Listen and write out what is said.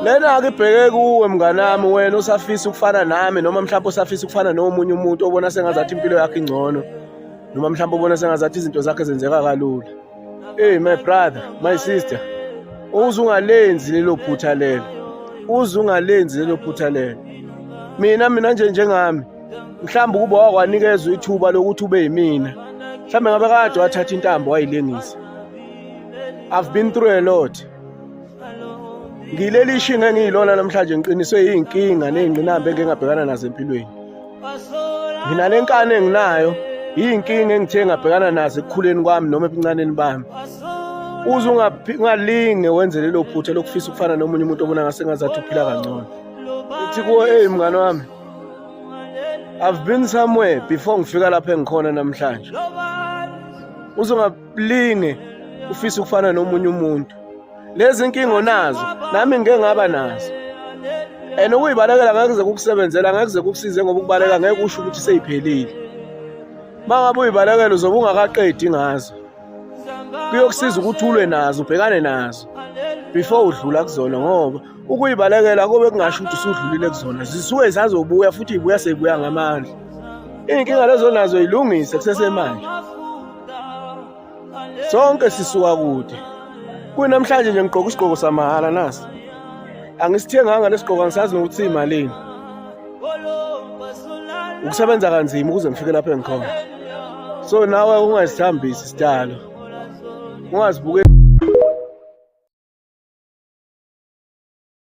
lena ake ibheke kuwe mnganami wena usafisa ukufana nami noma mhlawumbe usafisa ukufana nomunye umuntu obona sengazathi impilo yakhe ingcono noma mhlawumbe obona sengazathi izinto zakhe zenzeka kalula hey my brother my sister uze ungalenzi lelo phutha lelo uze ungalenzi lelo phutha lelo mina mina nje njengami mhlawumbe ukuba wakwanikezwa ithuba lokuthi ube yimina mhlawumbe ngabe kade wathatha intambo wayilengisa i've been through a lot ngileli ishinga engiyilona namhlanje ngiqiniswe iy'nkinga ney'ngqinamba engingabhekana nazo empilweni nginale nkani enginayo iy'nkinga engithe ngabhekana nazo ekukhuleni kwami noma ebuncaneni bami uze ungalinge wenze lelo phutha lokufisa ukufana nomunye umuntu obona ngase ngazathi uphila kangcono ithi kuwo eyi mngane wami i've been somewhere before ngifika lapho engikhona namhlanje uze Blinge ufisa ukufana nomunye umuntu. Lezi inkinga onazo nami ngeke ngaba nazo. And ukuyibalekela ngeke kuze kukusebenzela ngeke kuze kukusize ngoba ukubaleka ngeke usho ukuthi seyiphelile. Mangabe uyibalekela uzobe ungakaqedi ngazo. Kuyokusiza ukuthi ulwe nazo ubhekane nazo before udlula kuzona ngoba ukuyibalekela kube kungasho ukuthi usudlulile kuzona zisuke zazobuya futhi ibuya seyibuya ngamandla iy'nkinga lezo nazo yilungise kusesemanje sonke sisuka kude kunamhlanje nje ngigqoka isigqoko samahhala nasi angisithenganga lesigqoko angisazi nokuthi imalini ukusebenza kanzima ukuze ngifike lapho engikhona so nawe ungazithambisi sidalo ungazibuke